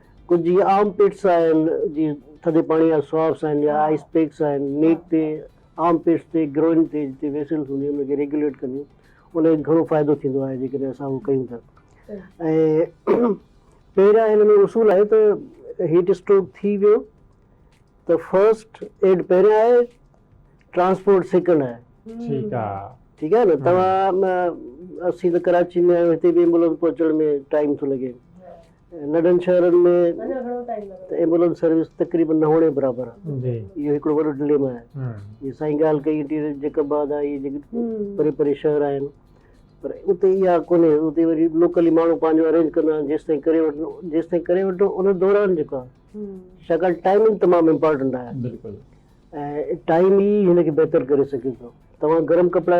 ڪجهه جيئن آرم پٽس آهن جي ٿڌي پاڻي جا سوارس آهن يا آئس پيڪس آهن نيڪ تي آرم پٽس تي گروئن تي جتي ويسلس هونديون آهن ان کي ريگوليٽ ڪنديون ان کي گهڻو فائدو ٿيندو آهي جيڪڏهن اسان اهو ڪيون ٿا ۽ پهريان هن ۾ اصول آهي ته هيٽ اسٽروڪ ٿي ويو ته فرسٽ ايڊ پهريان آهي ٽرانسپورٽ سيڪنڊ آهي ٺيڪ آهي ٺيڪ آهي نه توهان اسين ته ڪراچي ۾ آهيون هتي به ايمبولنس پهچڻ ۾ ٽائيم ٿو لڳي ننڍن شهرن ۾ ته ايمبولنس سروس تقريبن نه هئڻ جي برابر آهي. اهو هڪڙو وڏو ڊليما آهي. جيئن سائين ڳالهه ڪئي انٽيريئر جيڪب آباد آهي اهي جيڪي پري پري شهر آهن پر اتي اها ڪونهي اتي وري لوڪلي ماڻهو پنهنجو ارينج ڪندا آهن جيستائين ڪري وٺن جيستائين ڪري وٺو ان دوران جيڪو آهي ڇاڪاڻ ٽائمنگ تمام امپارٽنٽ آهي ۽ ٽائم ئي هن کي بهتر ڪري سگهي ٿو توهان گرم ڪپڙا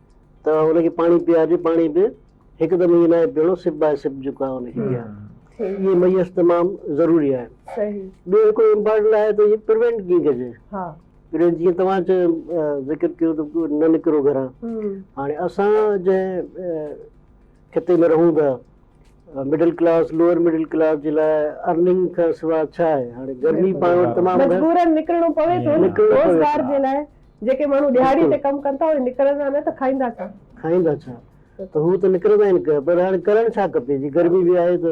ته ان کي پاڻي پيارجي، پاڻي به هڪدم ائين ناهي پيئڻو، سپ باء سپ جيڪو آهي ان کي پيارجي. اهي ميس تمام ضروري آهن. ٻيو هڪڙو امپارٽنٽ آهي ته اهي پروينٽ ڪيئن ڪجي. پروينٽ جيئن توهان چيو ذڪر ڪيو ته نه نڪرو گهران. هاڻي اسان جنهن خطي ۾ رهون ٿا، middle class, lower middle class جي لاء ارننگ کان سواء ڇا آهي. هاڻي گرمي پاڻ وٽ تمام گهڻي. مجبورن نڪرڻو پوي ٿو روزگار جي لاء. جيڪي ماڻهو ڏهاڙي تي ڪم ڪن ٿا اهي نڪرندا نه ته کائيندا ڇا؟ کائيندا ڇا؟ ته هو ته نڪرندا ئي نه پر هاڻي ڪرڻ ڇا کپي جي گرمي به آهي ته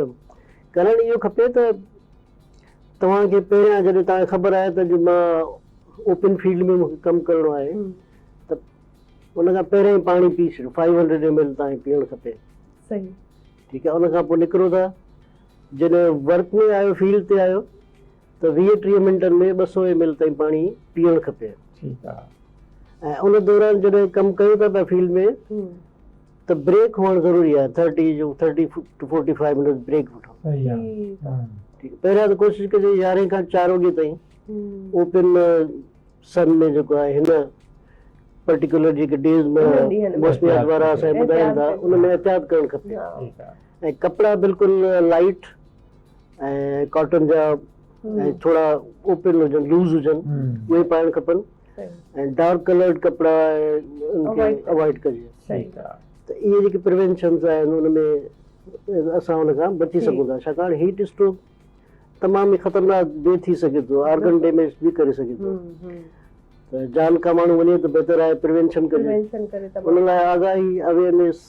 ڪرڻ اهو کپي ته توهان کي پهريان جڏهن توهان کي خبر آهي ته جي مان اوپن فيلڊ ۾ مون کي ڪم ڪرڻو آهي ته ان کان پهريان ئي پاڻي پي ڇڏيو فائيو هنڊريڊ ايم ايل توهان کي پيئڻ کپي صحيح ٺيڪ آهي ان کان پوء نڪرو ٿا جڏهن ورڪ ۾ آيو فيلڊ تي آيو ته ويهه ٽيهه منٽن ۾ ٻه سؤ ايم ايل تائين پاڻي پيئڻ کپي. ٺيڪ آ. ۽ ان دوران جڏهن ڪم ڪيو ٿا پيا فيلڊ ۾ ته بريڪ هئڻ ضروري آهي ٿرٽي جو thirty to forty five minutes break وٺو. صحيح آ. ٺيڪ پهريان ته ڪوشش ڪجي يارهين کان چار وڳي تائين اوپن سن ۾ جيڪو آهي هن پرٽيڪولر جيڪي ڊيز ۾ موسميات وارا اسان کي ٻڌائين ٿا ان ۾ احتياط ڪرڻ کپي ۽ ڪپڙا بلڪل لائٽ ۽ ڪاٽن جا ۽ ٿورا اوپن هجن لوز هجن اهي پائڻ کپن ۽ ڊارڪ ڪلرڊ ڪپڙا ان کي اوائڊ ڪجي ته اهي جيڪي پروينشنز آهن ان ۾ اسان ان کان بچي سگهون ٿا ڇاڪاڻ هيٽ اسٽروڪ تمام ئي خطرناڪ به ٿي سگهي ٿو آرگن ڊيميج به ڪري سگهي ٿو ته جان کان ماڻهو وڃي ته بهتر آهي پروينشن ڪجي ان لاء آگاهي اويرنيس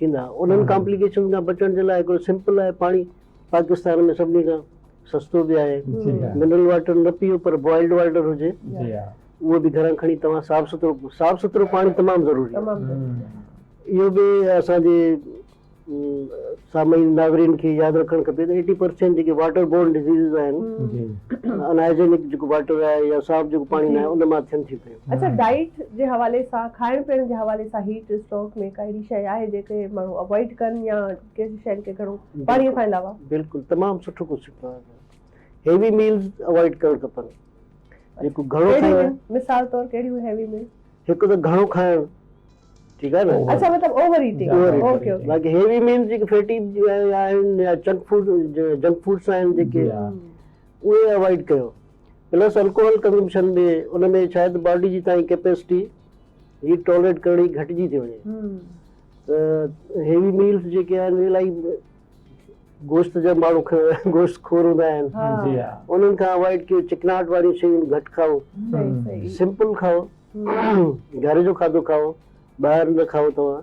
ٿيندا انهن ڪامپليڪيشنز کان بچڻ جي لاء هڪڙو سمپل آهي پاڻي پاڪستان ۾ سڀني کان سستو به آهي منرل واٽر نه پيو پر بوائلڊ واٽر هجي اهو به گهران کڻي توهان صاف سٿرو صاف سٿرو پاڻي تمام ضروري آهي اهو به اسان جي سامعين ناظرين کي ياد رکڻ کپي ته ايٽي پرسينٽ جيڪي واٽر بورن ڊزيزز آهن ان هائجينڪ جيڪو واٽر آهي يا صاف جيڪو پاڻي نه آهي ان مان ٿين ٿيون پيون اچا ڊائيٽ جي حوالي سان کائڻ پيئڻ جي حوالي سان هيٽ اسٽروڪ ۾ ڪا اهڙي شيء آهي جيڪي ماڻهو اوائڊ ڪن يا ڪهڙي شين کي گهڻو پاڻي کان علاوه. بلڪل تمام سٺو ڪوشچن ٿيو آهي هيوي ميلز اوائڊ ڪرڻ کپن جيڪو گهڻو کائي ڪهڙيون آهن مثال طور ڪهڙيون هيوي ميلز. هڪ ته گهڻو کائڻ ٺيڪ آهي نه. اچا مطلب اوور ايٽنگ اوڪي اوڪي. باقي هيوي ميلز جيڪي فيٽي آهن يا چنڪ فوڊ جنڪ فوڊس آهن جيڪي اهي اوائڊ ڪيو پلس الڪوحل ڪنزمپشن به ان ۾ شايد باڊي جي تائين ڪيپيسٽي هيٽ ٽالريٽ ڪرڻ جي گهٽجي ٿي وڃي ته هيوي ميلز جيڪي آهن الائي گوشت جا ماڻهو گوشت خور هوندا آهن انهن کان اوائڊ ڪيو چڪناهٽ واريون شيون گهٽ کائو سمپل کائو گهر جو کاڌو کائو ٻاهر نه کائو توهان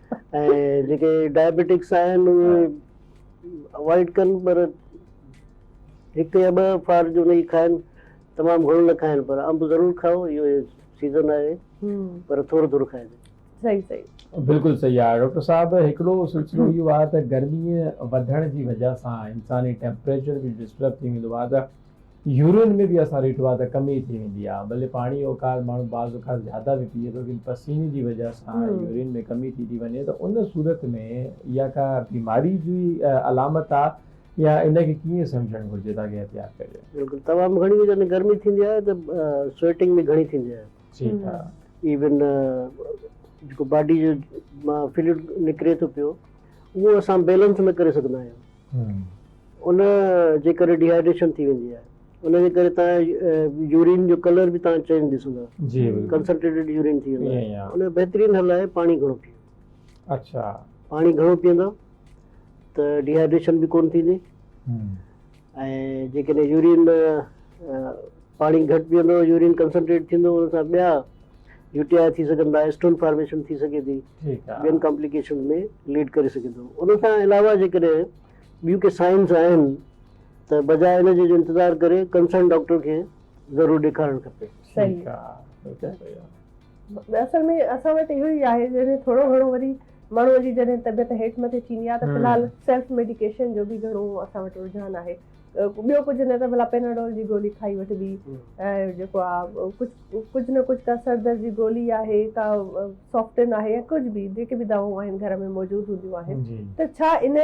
۽ جيڪي ڊائبيٽڪس آهن اهي اوائڊ ڪن پر هڪ يا ٻه فار جو نئي کائن تمام گهڻو نه کائن پر انب ضرور کائو اهو سيزن آهي پر ٿورو ٿورو کائن صحيح صحيح بلڪل صحيح آهي ڊاڪٽر صاحب هڪڙو سلسلو اهو آهي ته گرمي وڌڻ جي وجه سان انساني ٽيمپريچر به ڊسٽرب ٿي ويندو آهي ته يورين ۾ به اسان ريٽو آ ته ڪم ئي ٿي ويندي آ ڀلي پاڻي اوقات ماڻهو بعض اوقات زياده به پيئي ٿو ڪن پسيني جي وجه سان يورين ۾ ڪمي ٿي ٿي وڃي ته ان صورت ۾ اها ڪا بيماري جي علامت آ يا ان کي ڪيئن سمجهڻ گهرجي تاڪه احتياط ڪجي. بلڪل تمام گهڻي هو جڏهن گرمي ٿيندي آهي ته سوئيٽنگ به گهڻي ٿيندي آهي ٺيڪ آ. ايون جيڪو باڊي جو مان فلوئڊ نڪري ٿو پيو اهو اسان بيلنس نه ڪري سگهندا آهيون ان جي ڪري ڊيهائيڊريشن ٿي ويندي آهي ان جي ڪري توهان يورين جو ڪلر به توهان چينج ڏسندا ڪنسنٽريٽيڊ يورين ٿي ويندو آهي ان جو بهترين حل آهي پاڻي گهڻو پيو اڇا پاڻي گهڻو پيئندا ته ڊيهائيڊريشن به ڪون ٿيندي ۽ جيڪڏهن يورين پاڻي گهٽ پيئندو يورين ڪنسنٽريٽ ٿيندو ان سان ٻيا يو ٽي آء ٿي سگهن ٿا اسٽون فارميشن ٿي سگهي ٿي ٻين ڪامپليڪيشن ۾ ليڊ ڪري سگهي ٿو ان سان علاوه جيڪڏهن ٻيون ڪي سائنس آهن ته بجاء ان جي جو انتظار ڪري ڪنسرن ڊاڪٽر کي ضرور ڏيکارڻ کپي. صحيح آ اصل ۾ اسان وٽ اهو ئي آهي جڏهن ٿورو گهڻو وري ماڻهو جي جڏهن طبيعت هيٺ مٿي ٿيندي آ ته في الحال سيلف ميڊيڪيشن جو به گهڻو اسان وٽ رجحان آهي ٻيو ڪجهه نه ته ڀلا پيناڊول جي گولي کائي وٺبي ۽ جيڪو آ ڪجهه ڪجهه نه ڪجهه ڪا سردرد جي گولي آهي ڪا سوفٽن آهي يا ڪجهه به جيڪي به دوائون آهن گهر ۾ موجود هونديون آهن ته ڇا ان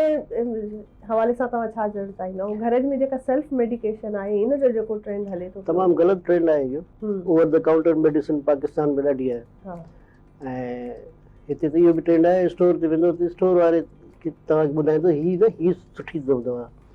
حوالي سان توهان ڇا چوڻ چاهيندا ۽ گهر ۾ جيڪا سيلف ميڊيڪيشن آهي ان جو جيڪو ٽرينڊ هلي ٿو تمام غلط ٽرينڊ آهي اهو over the counter medicine Pakistan ۾ ڏاڍي آهي ها ۽ هتي ته اهو به ٽرينڊ آهي اسٽور تي ويندو ته اسٽور واري توهان کي ٻڌائيندو هي نه هي سٺي اٿو دوا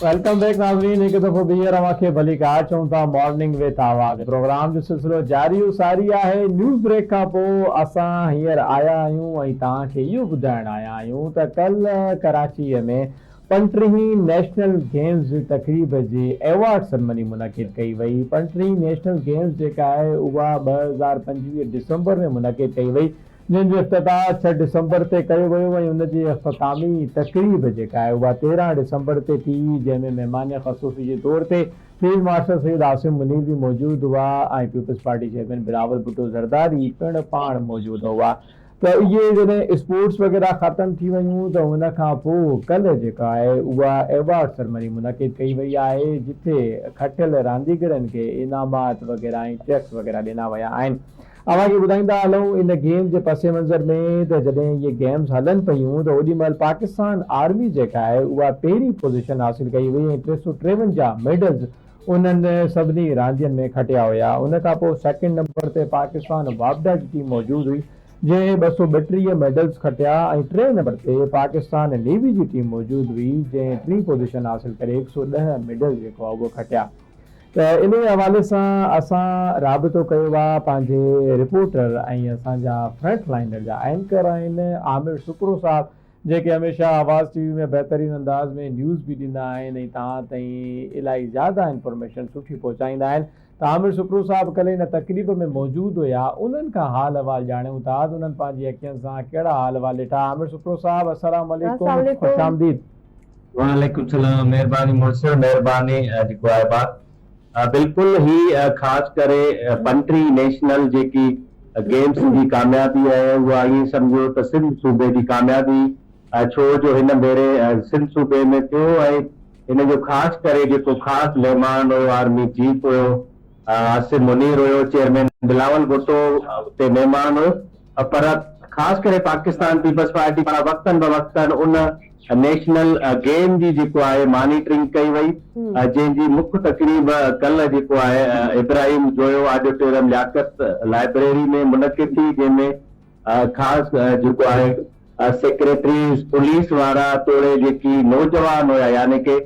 ويلڪم بيڪ ناظرين هڪ دفعو ٻيهر اوهان کي ڀليڪار چئون ٿا مارننگ وٿ آواز پروگرام جو سلسلو جاري و ساري آهي نيوز بريڪ کان پوء اسان هينئر آيا آهيون ۽ توهان کي اهو ٻڌائڻ آيا آهيون ته ڪلهه ڪراچيء ۾ پنٽرهين نيشنل گيمز جي تقريب جي ايوارڊ سرمني منعقد ڪئي وئي پنٽرهين نيشنل گيمز جيڪا آهي اها ٻه هزار پنجويهه ڊسمبر ۾ منعقد ڪئي وئي جنهن جو افتتاح ڇهه ڊسمبر تي ڪيو ويو ۽ ان جي اختتامي تقريب جيڪا آهي اها تيرهن ڊسمبر تي ٿي جنهن ۾ مهمان خصوصي جي طور تي فيلڊ مارشل سيد عاصم منير به موجود هئا ۽ Peoples Party chairman Bilawal Bhutto Zardari پڻ پاڻ موجود هئا ته اهي جڏهن اسپورٽس وغيره ختم ٿي ويون ته ان کان پوء ڪلهه جيڪا آهي اها ايوارڊ سرمني منعقد ڪئي وئي آهي جتي کٽيل رانديگرن کي انعامات وغيره ۽ چيڪس وغيره ڏنا ويا آهن اوهان کي ٻڌائيندا هلون ان گيم جي پس منظر ۾ ته جڏهن اهي گيمز هلن پيون ته اوڏي مهل پاڪستان آرمي جيڪا آهي اها پهرين پوزيشن حاصل ڪئي هئي ۽ ٽي سؤ ٽيونجاهه ميڊلز انهن سڀني راندين ۾ کٽيا هيا ان کان پوء سيڪنڊ نمبر تي پاڪستان واپڊا جي ٽيم موجود هئي جنهن ٻه سؤ ٻٽيهه ميڊلز کٽيا ۽ ٽئين نمبر تي پاڪستان نيوي جي ٽيم موجود هئي جنهن ٽين پوزيشن حاصل ڪري هڪ سؤ ڏهه ميڊلز جيڪو آهي اهو کٽيا. ته انهيء حوالي سان اسان رابطو ڪيو آ پنهنجي رپورٽر ۽ اسان جا فرنٽ لائينر جا اينڪر آهن عامر سڪرو صاحب جيڪي هميشه آواز ٽي وي ۾ بهترين انداز ۾ نيوز به ڏيندا آهن ۽ توهان تائين الائي زياده انفارميشن سٺي پهچائيندا آهن ته عامر سڪرو صاحب ڪلهه ان تقريب ۾ موجود هيا انهن کان حال احوال ڄاڻيون ٿا ته انهن پنهنجي اکين سان ڪهڙا حال احوال ڏٺا عامر سڪرو صاحب السلام عليڪم خوش آمديد. وعليڪم السلام مھرباني مڙس مھرباني جيڪو آھي بات بلڪل ھي خاص ڪري بنٽري نيشنل جيڪي گيمس جي ڪاميابي اھي اھا ايئن سمجھو ته سنڌ صوبي جي ڪاميابي ڇو جو ھن ڀيري سنڌ صوبي ۾ ٿيو ۽ ھن جو خاص ڪري جيڪو خاص مھمان ھيو آرمي چيف ھيو عاصم منير هيو، چيئرمين بلاول ڀٽو اتي مهمان هيو پر خاص ڪري پاڪستان پيپلز پارٽي پاران وقتن بوقتن ان نيشنل گيم جي جيڪو آهي مانيٽرنگ ڪئي وئي جنهن جي مک تقريب ڪلهه جيڪو آهي ابراهيم جويو آڊيٽوريم لياقت لائبريري ۾ منعقد ٿي جنهن ۾ خاص جيڪو آهي سيڪريٽري پوليس وارا توڙي جيڪي نوجوان هيا يعني ڪي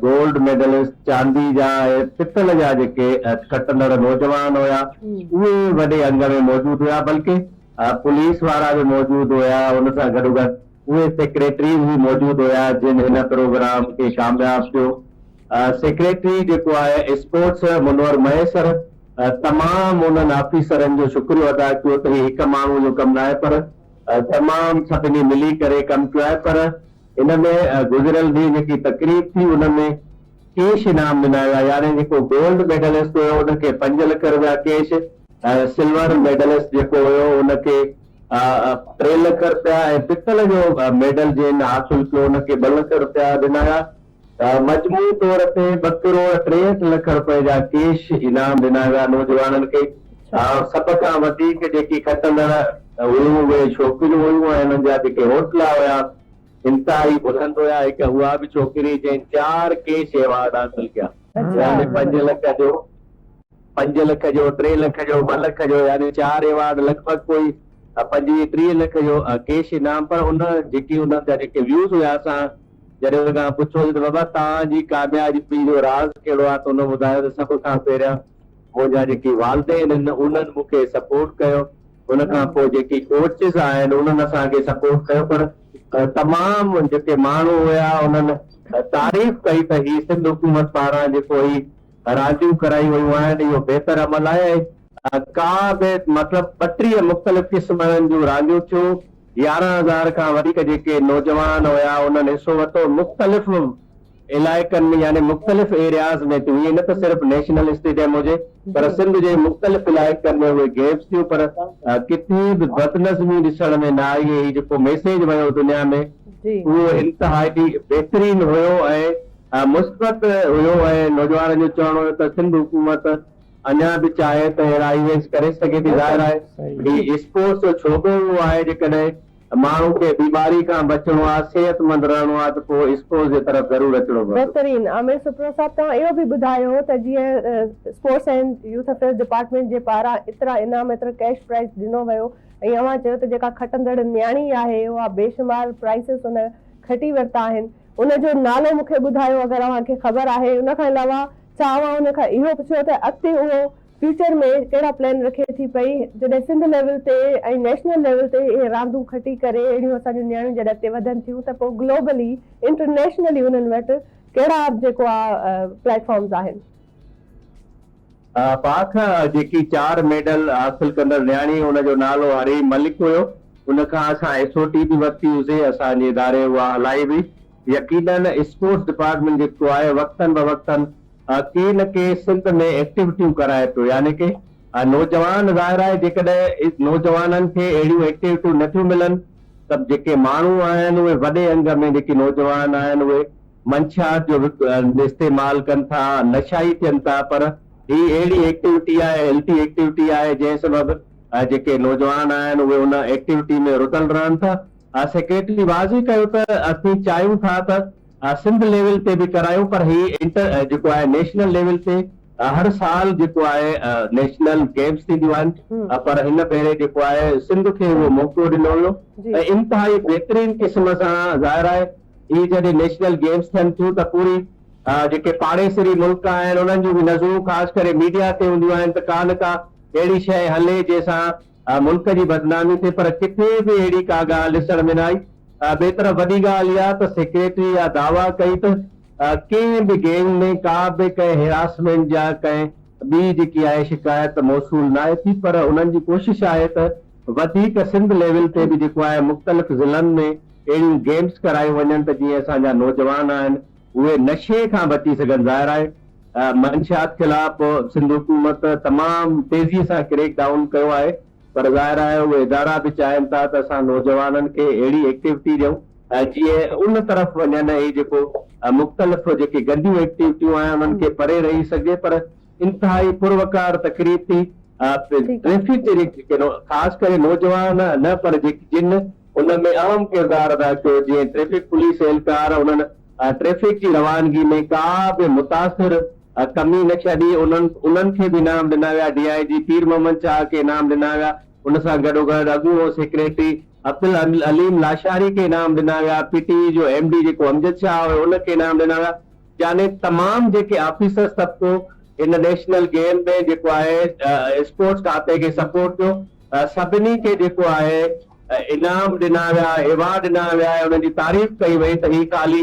گولڊ ميڊلسٽ چاندي جا ۽ پتل جا جيڪي کٽندڙ نوجوان هيا اهي وڏي انگ ۾ موجود هيا بلڪه پوليس وارا به موجود هيا ان سان گڏوگڏ اهي سيڪريٽريز به موجود هيا جن هن پروگرام کي ڪامياب ڪيو. سيڪريٽري جيڪو آهي اسپورٽس منور مهيسر تمام انهن آفيسرن جو شڪريو ادا ڪيو ته هي هڪ ماڻهو جو ڪم ناهي پر تمام سڀني ملي ڪري ڪم ڪيو آهي پر ان ۾ گذريل ڏينهن جيڪي تقريب ٿي ان ۾ ڪيش انعام ڏنا ويا يعني جيڪو گولڊ ميڊلسٽ هيو ان کي پنج لک رپيا ڪيش ۽ سلور ميڊلسٽ جيڪو هيو ان کي ٽي لک رپيا ۽ پتل جو ميڊل جنھن حاصل ڪيو ان کي ٻه لک رپيا ڏنايا. مجموعي طور تي ٻه ڪروڙ ٽيهٺ لک رپئي جا ڪيش انعام ڏنا ويا نوجوانن کي. سڀ کان وڌيڪ جيڪي کٽندڙ هيون اهي ڇوڪريون هيون ۽ انهن جا جيڪي حوصلا هيا انتهائي بلند هيا. هڪ اها به ڇوڪري جنهن چار ڪيش ايوارڊ حاصل ڪيا. پنج لک جو. پنج لک جو، ٽي لک جو، ٻه لک جو يعني چار ايوارڊ لڳ ڀڳ ڪوئي پنجويهه ٽيهه لک جو ڪيش انعام پر ان جيڪي انهن جا جيڪي ويوز هيا اسان جڏهن انهن کان پڇيوسين ته بابا توهان جي ڪاميابي جو راز ڪهڙو آهي ته انهن ٻڌايو ته سڀ کان پهريان منهنجا جيڪي والدين آهن انهن مون کي سپورٽ ڪيو ان کان پوء جيڪي ڪوچز آهن انهن اسان کي سپورٽ ڪيو پر تمام جيڪي ماڻهو هيا انهن تعريف ڪئي ته هي سنڌ حڪومت پاران جيڪو هي راضيون ڪرايون ويون آهن اهو بهتر عمل آهي ۽ ڪا به مطلب ٻٽيهه مختلف قسمن جون رانديون ٿيون يارهن هزار کان وڌيڪ جيڪي نوجوان هيا انهن حصو ورتو مختلف علائقن ۾ يعني مختلف ايرياز ۾ ٿيون ائين نه ته صرف نيشنل اسٽيڊيم هجي پر سنڌ جي مختلف علائقن ۾ اهي گيمز ٿيون پر ڪٿي به بدنظمي ڏسڻ ۾ نه آئي هي جيڪو ميسيج ويو دنيا ۾ اهو انتهائي بهترين هيو ۽ مثبت هيو ۽ نوجوانن جو چوڻ هيو ته سنڌ حڪومت اڃا به چاهي ته اهڙا ايونٽس ڪري سگهي ٿي ظاهر آهي هي اسپورٽس جو شعبو اهو آهي جيڪڏهن ماڻهو کي بيماري کان بچڻو آهي صحت مند رهڻو آهي ته پوء اسپورٽس جي طرف ضرور اچڻو پوندو. بهترين عامر سپرو صاحب توهان اهو به ٻڌايو ته جيئن sports and youth affairs department جي پاران ايترا انعام ايترو ڪيش پرائز ڏنو ويو ۽ اوهان چيو ته جيڪا کٽندڙ نياڻي آهي اها بيشمار پرائسز ان کٽي ورتا آهن ان جو نالو مون کي ٻڌايو اگر اوهان کي خبر آهي ان کان علاوه ڇا اوهان ان کان اهو پڇيو ته اڳتي اهو فيوچر ۾ ڪهڙا پلان رکي ٿي پئي جڏهن سنڌ ليول تي ۽ نيشنل ليول تي اهي راندون کٽي ڪري اهڙيون اسان جون نياڻيون جڏهن اڳتي وڌن ٿيون ته پوء گلوبلي انٽرنيشنلي انهن وٽ ڪهڙا جيڪو آ پليٽ فارمز آهن. پاڪ جيڪي چار ميڊل حاصل ڪندڙ نياڻي ان جو نالو حريم ملڪ هيو ان کان اسان ايس او ٽي به ورتي هوسي اسان جي اداري اها هلائي هئي يقينن اسپورٽس ڊپارٽمينٽ جيڪو آهي وقتن بوقتن ڪي نه ڪي سنڌ ۾ ايڪٽيوٽيون ڪرائي پيو يعني ڪي نوجوان ظاهر آهي جيڪڏهن نوجوانن کي اهڙيون ايڪٽيوٽيون نه ٿيون ملن ته جيڪي ماڻهو آهن اهي وڏي انگ ۾ جيڪي نوجوان آهن اهي منشيات جو وڪ استعمال ڪن ٿا نشائي ٿين ٿا پر هي اهڙي ايڪٽيوٽي آهي هيلٿي ايڪٽيوٽي آهي جنهن سبب جيڪي نوجوان آهن اهي ان ايڪٽيوٽي ۾ رڌل رهن ٿا سيڪريٽري واضح ڪيو ته اسين چاهيون ٿا ته سنڌ ليول تي به ڪرايون پر هي انٽر جيڪو آهي نيشنل ليول تي هر سال جيڪو آهي نيشنل گيمس ٿينديون آهن پر هن ڀيري جيڪو آهي سنڌ کي اهو موقعو ڏنو ويو ۽ انتهائي بهترين قسم سان ظاهر آهي اهي جڏهن نيشنل گيمز ٿين ٿيون ته پوري جيڪي پاڙيسري ملڪ آهن انهن جون به نظرون خاص ڪري ميڊيا تي هونديون آهن ته ڪا نه ڪا اهڙي شيء هلي جنهن سان ملڪ جي بدنامي ٿئي پر ڪٿي به اهڙي ڪا ڳالهه ڏسڻ ۾ نه آئي ٻئي طرف وڏي ڳالهه اها ته سيڪريٽري اها دعويٰ ڪئي ته ڪنهن به گينگ ۾ ڪا به ڪنهن هراسمينٽ جا ڪنهن ٻي جيڪي آهي شڪايت ته موصول ناهي ٿي پر انهن جي ڪوشش آهي ته وڌيڪ سنڌ ليول تي به جيڪو آهي مختلف ضلعن ۾ اهڙيون گيمز ڪرايون وڃن ته جيئن اسان جا نوجوان آهن اهي نشي کان بچي سگهن ظاهر آهي منشيات خلاف سنڌ حڪومت تمام تيزي سان ڪريڪ ڊائون ڪيو آهي. پر ظاهر آهي اهي ادارا به چاهين ٿا ته اسان نوجوانن کي اهڙي ايڪٽيوٽي ڏيون جيئن ان طرف وڃن ۽ هي جيڪو مختلف جيڪي گنديون ايڪٽيوٽيون آهن انهن کي پري رهي سگهجي پر انتهائي پروقار تقريب ٿي ٽريفڪ جي جيڪي خاص ڪري نوجوان نه پر جيڪي جن ان ۾ اهم ڪردار ادا ڪيو جيئن ٽريفڪ پوليس اهلڪار انهن ٽريفڪ جي روانگي ۾ ڪا به متاثر ڪمي نه ڇڏي، انهن انهن کي به انعام ڏنا ويا، ڊي آء جي پير محمد چاهه کي انعام ڏنا ويا، ان سان گڏوگڏ اڳوڻو سيڪريٽري عبدالعليم لاشاري کي انعام ڏنا ويا، پي ٽي وي جو ايم ڊي جيڪو امجد شاهه هيو ان کي انعام ڏنا ويا، يعني تمام جيڪي آفيسرز طبقو هن نيشنل گيم ۾ جيڪو آهي اسپورٽس کاتي کي سپورٽ ڪيو سڀني کي جيڪو آهي انعام ڏنا ويا ايوارڊ ڏنا ويا ۽ انهن جي تعريف ڪئي وئي ته هي خالي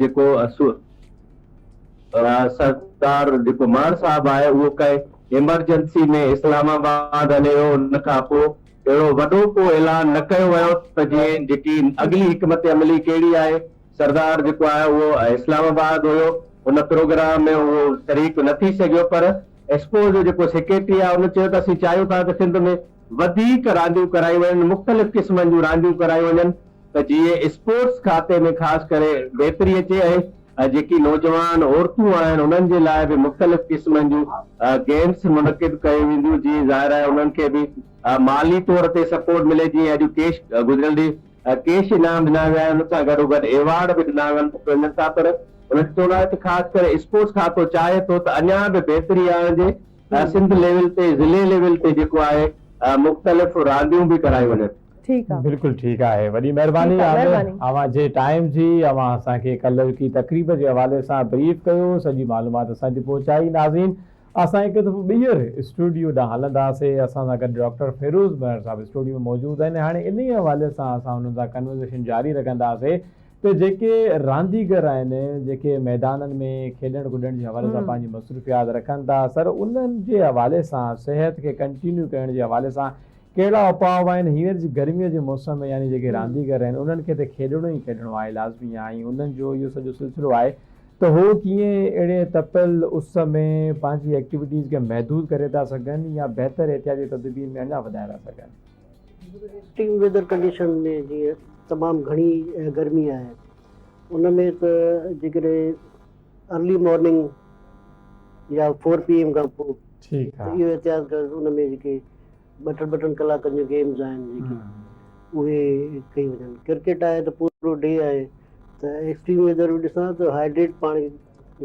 جيڪو سردار جيڪو ماڻ صاحب آهي اهو ڪنهن ايمرجنسي ۾ اسلام آباد هلي ويو ان کان پوء اهڙو وڏو ڪو اعلان نه ڪيو ويو ته جيئن جيڪي اڳلي حڪمت عملي ڪهڙي آهي سردار جيڪو آهي اهو اسلام آباد هيو ان پروگرام ۾ اهو شريڪ نه ٿي سگهيو پر ايسڪو جو جيڪو سيڪريٽري آهي ان چيو ته اسين چاهيون ٿا ته سنڌ ۾ وڌيڪ رانديون ڪرايون وڃن، مختلف قسمن جون رانديون ڪرايون وڃن ته جيئن اسپورٽس کاتي ۾ خاص ڪري بهتري اچي ۽ جيڪي نوجوان عورتون آهن انهن جي لاء به مختلف قسمن جون گيمس منعقد ڪيون وينديون جيئن ظاهر آهي انهن کي به مالي طور تي سپورٽ ملي جيئن اڄ ڪيش گذريل ڏينهن ڪيش انعام ڏنا ويا آهن ان سان گڏوگڏ ايوارڊ به ڏنا وڃن ٿا پر انهن جو چوڻ آهي ته خاص ڪري اسپورٽس کاتو چاهي ٿو ته اڃا به بهتري آڻجي. سنڌ ليول تي ضلعي ليول تي جيڪو آهي مختلف رانديون به ڪرايون وڃن. بلڪل ٺيڪ آهي وڏي مهرباني عامر اوهان جي ٽائيم جي اوهان اسان کي ڪلهوڪي تقريب جي حوالي سان بريف ڪيو سڄي معلومات اسان تي پهچائي ناظرين اسان هڪ دفعو ٻيهر اسٽوڊيو ڏانهن هلنداسي اسان سان گڏ ڊاڪٽر فيروز مهر صاحب اسٽوڊيو ۾ موجود آهن هاڻي انهي حوالي سان اسان انهن سان ڪنورزيشن جاري رکنداسي ته جيڪي رانديگر آهن، جيڪي ميدانن ۾ کيڏڻ ڪڏڻ جي حوالي سان پنهنجي مصروفيات رکن ٿا سر انهن جي حوالي سان صحت کي ڪنٽينيو ڪرڻ جي حوالي سان ڪهڙا اپاء آهن هينئر جي گرمي جي موسم ۾ يعني جيڪي رانديگر آهن انهن کي ته کيڏڻو ئي کيڏڻو آهي لازمي آهي ۽ انهن جو اهو سڄو سلسلو آهي ته هو ڪيئن اهڙي تپيل اس ۾ پنهنجي ايڪٽيوٽيز کي محدود ڪري ٿا سگهن يا بهتر احتياطي تدبير ۾ اڃا وڌائي ٿا سگهن. ايڪسٽريم ويدر ڪنڊيشن ۾ جيئن تمام گهڻي گرمي آهي ان ۾ ته جيڪڏهن ارلي مارننگ يا فور پي ايم کان پوء ٺيڪ آهي اهو احتياط ڪرڻ ان ۾ جيڪي ٻه ٽن ٻه ٽن ڪلاڪن جون گيمز آهن جيڪي اهي ڪيون وڃن ڪرڪيٽ آهي ته پورو ڊي آهي ته ايڪسٽريم ويدر به ڏسان ته هائيڊريٽ پاڻي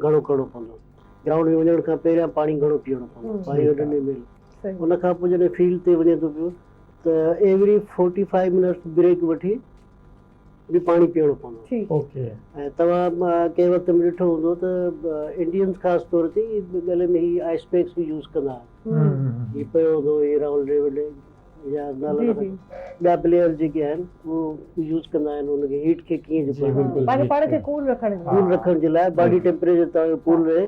گهڻو ڪرڻو پوندو گرائونڊ ۾ وڃڻ کان پهريان پاڻي گهڻو پيئڻو پوندو فائيو هنڊريڊ ايم ايل ان کان پوء جڏهن فيلڊ تي وڃي ٿو پيو ته every forty five minutes break وٺي به پاڻي پيئڻو پوندو آهي ۽ توهان ڪنهن وقت به ڏٺو هوندو ته انڊينز خاص طور تي ڳلي ۾ هي آئس پيڪس به يوز ڪندا آهن هي پيو هوندو هي راهول ڊريوڊ يا ٻيا پليئرز جيڪي آهن هو يوز ڪندا آهن ان کي هيٽ کي ڪيئن جي پاڻ کي ڪول رکڻ جي لاء باڊي ٽيمپريچر توهان جو ڪول رهي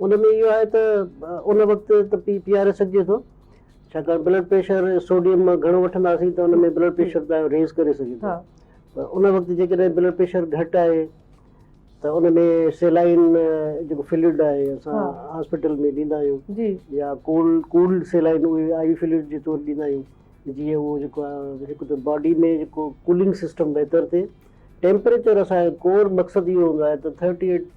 ان ۾ اهو آهي ته ان وقت ته پي پي آر سگهجي ٿو ڇاڪاڻ بلڊ پريشر سوڊيم مان گهڻو وٺنداسين ته ان ۾ بلڊ پريشر تنهنجو ريز ڪري سگهي ٿو پر ان وقت جيڪڏهن بلڊ پريشر گهٽ آهي ته ان ۾ سيلائن جيڪو فلوئڊ آهي اسان هاسپيٽل ۾ ڏيندا آهيون يا ڪولڊ ڪولڊ سيلائن اهي آء وي فلوئڊ جي طور ڏيندا آهيون جيئن اهو جيڪو آهي هڪ ته باڊي ۾ جيڪو ڪولنگ سسٽم بهتر ٿئي ٽيمپريچر اسان جو ڪور مقصد اهو هوندو آهي ته ٿرٽي ايٽ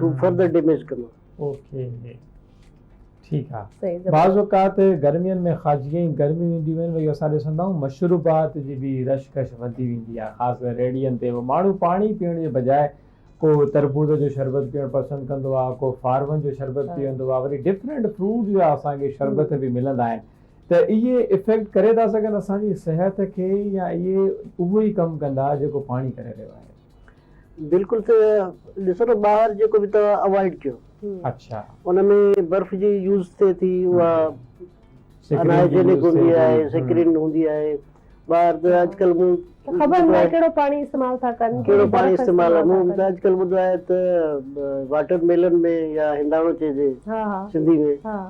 ٿو فرڌر ڊيميج ڪندو. اوڪي ٺيڪ آ بعض اوقات گرمين ۾ خاص جيئن گرميون اينديون آهن وئي اسان ڏسندا آهيون مشروبات جي به رش ڪش وڌي ويندي آهي خاص ڪري ريڙهين تي به ماڻهو پاڻي پيئڻ جي بجاء ڪو تربوز جو شربت پيئڻ پسند ڪندو آهي ڪو فارون جو شربت پيئندو آهي وري ڊفرنٽ فروٽ جا اسان کي شربت به ملندا آهن ته اهي افيڪٽ ڪري ٿا سگهن اسان جي صحت کي يا اهي اهو ئي ڪم ڪندا جيڪو پاڻي ڪري رهيو آهي. بلڪل ته ڏسو ته ٻاهر جيڪو به توهان اوائڊ ڪيو اڇا ان ۾ برف جي يوز ٿئي ٿي اها انهائجينڪ هوندي آهي سڪرين هوندي آهي ٻاهر ته اڄڪلهه مون خبر ناهي ڪهڙو پاڻي استعمال ٿا ڪن ڪهڙو پاڻي استعمال مون ته اڄڪلهه ٻڌو آهي ته واٽر ميلن ۾ يا هنداڻو چئجي سنڌي ۾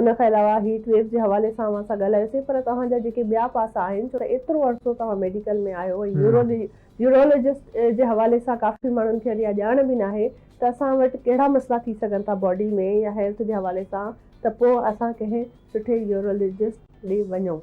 ان کان علاوه هيٽ ويوز جي حوالي سان اوهان سان ڳالهايوسين پر توهان جا جيڪي ٻيا پاسا آهن ڇو ته ايترو عرصو توهان ميڊيڪل ۾ آهيو ۽ يورو يورولوجسٽ جي حوالي سان ڪافي ماڻهن کي اڃان ڄاڻ به ناهي ته اسان وٽ ڪهڙا مسئلا ٿي سگهن ٿا باڊي ۾ يا هيلٿ جي حوالي سان ته پوء اسان ڪنهن سٺي يورولوجسٽ ڏي وڃون.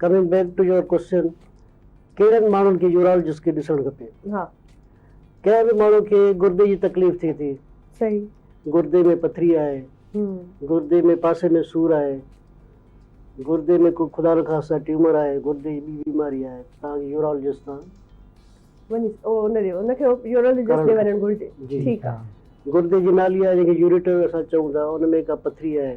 Coming back to your question ڪهڙن ماڻهن کي يورالجسٽ ڏسڻ کپي ها ڪنهن به ماڻهو کي گردي جي تڪليف ٿئي ٿي صحيح گردي ۾ پٿري آهي گردي ۾ پاسي ۾ سور آهي گردي ۾ ڪو خدا نخواسته ٽيومر آهي گردي جي ٻي بيماري آهي تان کي يورالجسٽ تان گردي جي نالي آهي جنهن کي يوريٽر اسان چئون ٿا ان ۾ ڪا پٿري آهي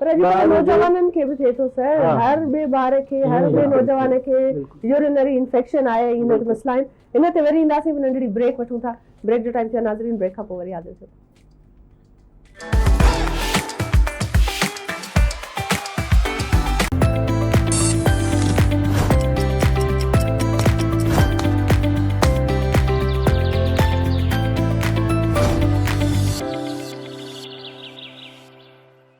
پر اڄڪلهه نوجوانن کي به ٿئي ٿو سر هر ٻئي ٻار کي هر ٻئي نوجوان کي يورينري انفيڪشن آهي ۽ هن مسئلا آهن هن تي وري اينداسين هڪ ننڍڙي بريڪ وٺون ٿا بريڪ جو ٽائيم ٿيو ناظرين بريڪ کان پوء وري حاضر ٿيو